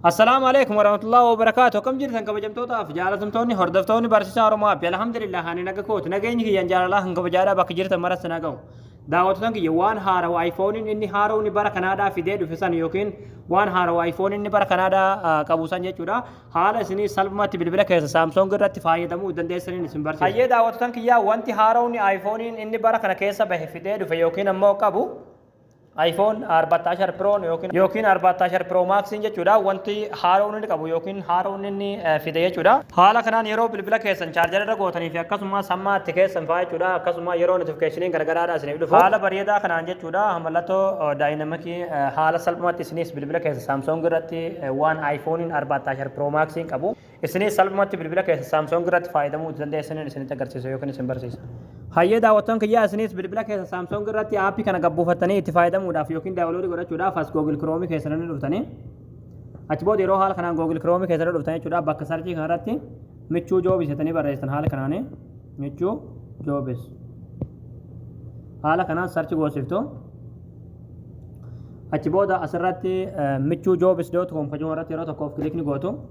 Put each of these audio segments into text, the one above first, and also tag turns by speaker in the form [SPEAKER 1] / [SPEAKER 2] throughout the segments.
[SPEAKER 1] Assalaamu alaikum warahmatullahi wabarakatuh akkam jirtan kabajamtootaaf jaalatamtoonni hordoftoonni barsiisaa Oromoo Abbi alhamdulillah ani naga kooti nageenyi kiyyaan jaalalaa kan kabajaadhaa bakka jirtan maratti na gahu daawwattoota kiyya waan haarawa ayfooniin inni haaromni bara kanaadhaa fidee dhufe san yookiin waan haarawa ayfooniin inni bara kanaadhaa qabu san jechuudha haala isinii salphumatti bilbila keessa saamsoong irratti fayyadamuu dandeessaniin isin barsiisa. Hayyee daawwattoota kiyyaa wanti haaromni ayfooniin inni bara kana keessa bahe fidee dhufe yookiin ammoo qabu iPhone 14 Pro'n yookiin yookiin 14 Pro Max'n jechuudha wanti haaroon inni qabu yookiin haaroon inni eh, fide jechuudha. Haala kanaan yeroo bilbila keessan chaarjara irra gootanii fi akkasumas hamma itti keessan fa'aa jechuudha akkasuma yeroo notifikashiniin gargaraadha isiniif dhufu haala bareedaa kanaan jechuudha mallattoo eh, daayinamakii eh, haala salphumaatti isinis bilbila keessa Samsung irratti eh, waan iPhone'n 14 Pro Max'n qabu Isiniis salphumatti bilbila keessa Samsung irratti faayadamuu itti dandeessaniin isinitti agarsiisa yookiin isin barsiisa. Hayyee daawwattoon kiyyaa isiniis bilbila keessa Samsung irratti aappii kana gabbuufattanii itti faayadamuudhaaf yookiin daawuloodii godhachuudhaaf as Google Chrome keessa ni dhuftanii achi booda yeroo haala kanaan Google Chrome keessa dhuftan jechuudha bakka sarchii kanarratti michuu joobis jetanii barreessitan haala kanaanii michuu joobis haala kanaan sarchi goosiftu achi booda asirratti michuu joobis doot koom kajuun irratti yeroo tokkoof kilikni gootu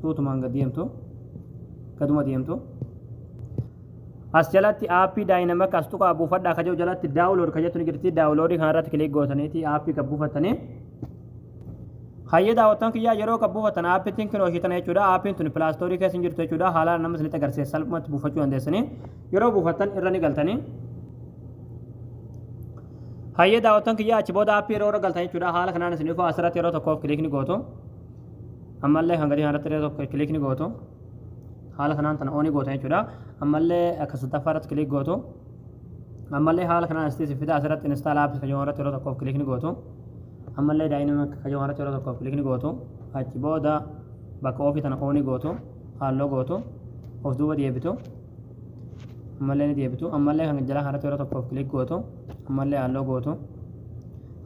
[SPEAKER 1] suutumaan gad deemtu gaduma deemtu as jalatti aappii daayinamak as tuqaa buufadhaa ka jedhu jalatti daawulood ka jettu ni jirti daawuloodii kana irratti kilik gootaniiti aappii kan buufattanii hayyee daawwattan kiyyaa yeroo kan buufatan aappiitiin kinoo ishii tana jechuudha aappiin tuni pilaastoorii keessa hin jirtu jechuudha haalaan nama isinitti agarsiisa salphumatti buufachuu dandeessanii yeroo buufattan irra ni galtanii hayyee daawwattan kiyyaa achi booda aappii yeroo irra galtan jechuudha haala kanaan isin dhufaa asirratti yeroo tokkoof kilik ni gootu ammallee kan gadii kanarratti illee tokko kiliik ni gootu haala kanaan tana oonii gootan jechuudha ammallee akka sadaffaa irratti kiliik gootu ammallee haala kanaan asitti si fida asirratti install apps kan jedhamu irratti yeroo tokkoof kiliik ni gootu ammallee dynamic kan jedhamu irratti yeroo tokkoof kiliik ni gootu achi booda bakka ofii tana oonii gootu halloo gootu of duuba deebitu ammallee ni deebitu ammallee kan jalaa kanarratti yeroo tokkoof kilik gootu ammallee halloo gootu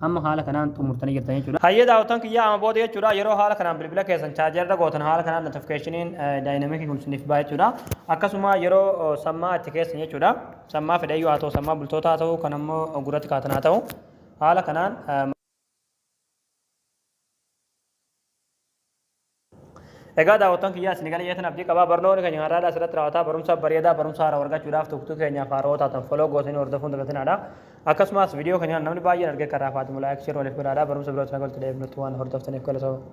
[SPEAKER 1] amma haala kanaan xumurtanii jirtan jechuudha. Hayyee daawwattoon kiyyaa amma booda jechuudha yeroo haala kanaan bilbila keessan chaajarra gootan haala kanaan notifikashiniin daayinamikii kun isiniif ba'a jechuudha. Akkasuma yeroo sammaa itti keessan jechuudha sammaa fedhayyuu haa ta'u sammaa bultootaa haa ta'u kan ammoo gurratti kaatan haa ta'u haala kanaan Egaa daawwattoon kiyyaa isin gala jeetan abdii qabaa barnoonni keenya har'aadha asirratti raawwataa barumsa bareedaa barumsa haaraa argachuudhaaf tuqtuu keenyaaf haaraa taatan foloo gootanii hordofuun dagatinaadha. Akkasumas viidiyoo keenya namni baay'een argee karaa faatimu laayik shir waliif godhaadha barumsa birootti nagalti deebnutti waan hordoftaniif galatoomaa.